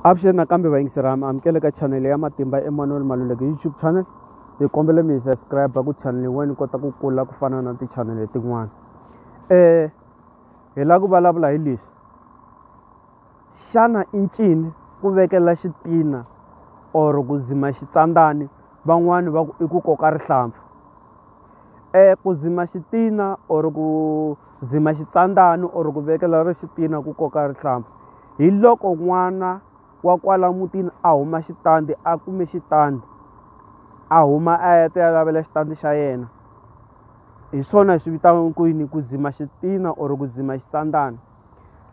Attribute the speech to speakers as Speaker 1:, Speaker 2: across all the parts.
Speaker 1: avuxeni nakambe vayingiseri ami amukele ka chanele ya matimba emmanuel maluleke youtube channel hi kombela mi hi subscribe ku chanele wena ni kota ku kula ku fana na tichanele tin'wana um hi lava ku vulavula hi leswi xana i ncini ku vekela xitina or ku dzima xitsandzani van'wani va ku i ku koka rihlampfu Ku dzima xitina or ku dzima xitsandzani or ku vekela ri xitina ku koka rihlampfu hi loko n'wana wa kwala mutini a huma xitandi a kume xitandi a huma a ya ti ya lavela xitandi xa yena hi swona hi swi vitanaka ku yini ku dzima xitina or ku dzima xitsandzana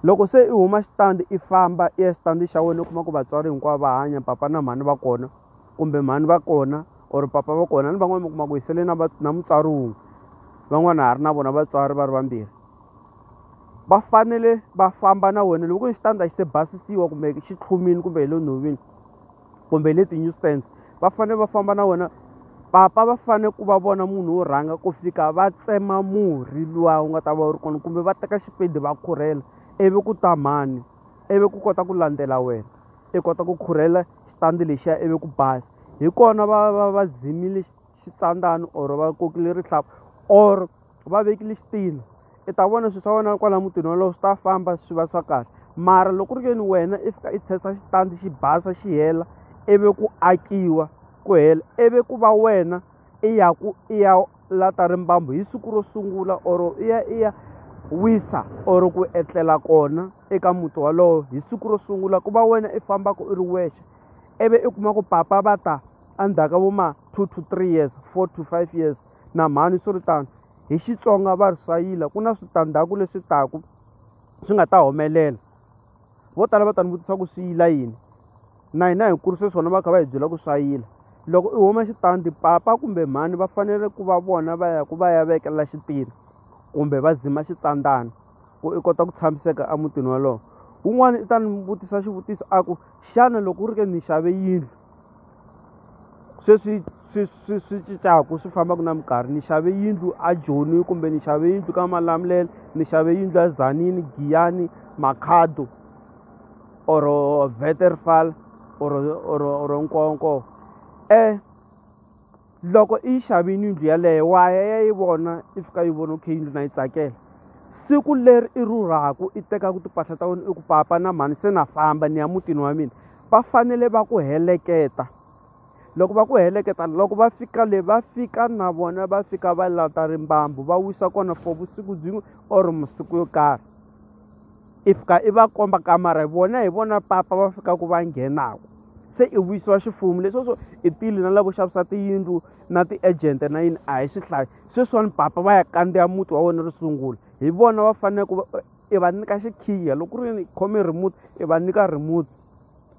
Speaker 1: loko se i huma xitandi i famba i ya xitandi xa wena u kuma ku vatswari hinkwavo va hanya papa na mhani va kona. kumbe mhani va kona or papa va kona ni van'wana mi kuma ku hi sele na na mutswari wun'we van'wana ha ri na vona vatswari va ri vambirhi va fanele va famba na wena loko ku ri xitandza xi se basisiwa kumbe xi tlhumini kumbe hi le nhovini kumbe hi le ti-newsstands va fanele va famba na wena papa va fanele ku va vona munhu wo rhanga ku fika va tsema murhi luwa wu nga ta va wu ri kona kumbe va teka xipedi va khurhela ivi ku ta mhani ivi ku kota ku landzela wena i kota ku khurhela xitandi lexiya ivi ku basa hi kona va va va zimile xitsandzani or va kokile rihlampfu or va vekile xitina i ta vona swilo swa wena kwala mutini wolowo swi ta famba swi va swa kahle mara loko ri ke ni wena i fika i tshesa xitandi xi basa xi hela ivi ku akiwa ku hela ivi ku va wena. i ya ku i ya lata rimbambu hi siku ro sungula or i ya i ya wisa or ku etlela kona eka muti walowo hi siku ro sungula ku va wena i fambaka i ri wexe ivi i kuma ku papa va ta endzhaku ka vo ma two to three years four to five years na mhani swi ri tano hi xitsonga va ri sayila ku na switandzhaku leswi taku swi nga ta humelela. vo tala va ta ni vutisa ku swi yila yini na hina hi kurise swona va kha va hi byela ku swa yila loko i huma xitandi papa kumbe mhani va fanele ku va vona va ya ku va ya vekela xitiri kumbe va zima xitsandzana ku i kota ku tshamiseka emutini wolowo wun'wana i ta ni vutisa xivutiso a ku xana loko u ri ke ni xave yindlu sweswi swi swi swi cincaku swi fambaka na minkarhi ni xave yindlu a joni kumbe ni xave yindlu ka malamulele ni xave yindlu a Tzaneen, Giyani, Makhado or Waterval or or or Nkowankowa . loko i yi xavini yindlu yaleyo wa ya ya yi vona i fika yi vona okay yindlu na yi tsakela siku leri i rhurhaku i tekaku timpahla ta wena i ku papa na mhani se na famba ni ya mutini wa mina va fanele va ku heleketa loko va ku heleketa loko va fika le va fika na vona va fika va lata rimbambu va wisa kona for vusiku byin'we or masiku yo karhi. i fika i va komba kamara hi vona hi vona papa va fikaka va nghenaka se i vuyisiwa xifumu leswo swo i tile na lavo xavisa tiyindlu na ti-agent na yini a hi swi hlayi sweswiwani papa va ya kandziya muti wa wena ro sungula hi vona va fanele ku i va nyika xikhiya loko ku ri khome remote i va nyika remote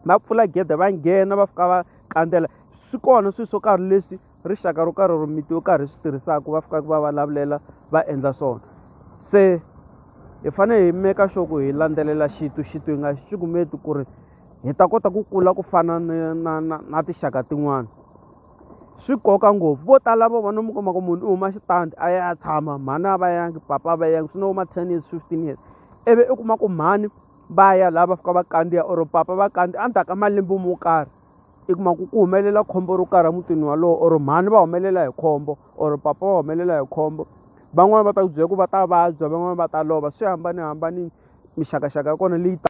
Speaker 1: va pfula gede va nghena va fika va kandzela swi kona swilo swo karhi leswi rixaka ro karhi ro miti yo karhi swi tirhisaka va fikaka va vulavulela va endla swona se hi fanele hi meka sure ku hi landzelela xitu xitu hi nga xi cukumeti ku ri hi ta kota ku kula ku fana na na na na tixaka tin'wana swi koka ngopfu vo tala vo vona mi kuma ku munhu u huma xitandi a ya tshama mhani a va yangi papa a va yangi swi no huma ten years fifteen years ivi i kuma ku mhani va ya laha va fika va kandziya or papa va kandziya endzhaku ka malembe mo karhi i kuma ku ku humelela khombo ro karhi emutini walowo or mhani va humelela hi khombo or papa va humelela hi khombo van'wani va ta ku byela ku va ta vabya van'wani va ta lova swi hambanihambanile mixakaxaka ya kona leyi ta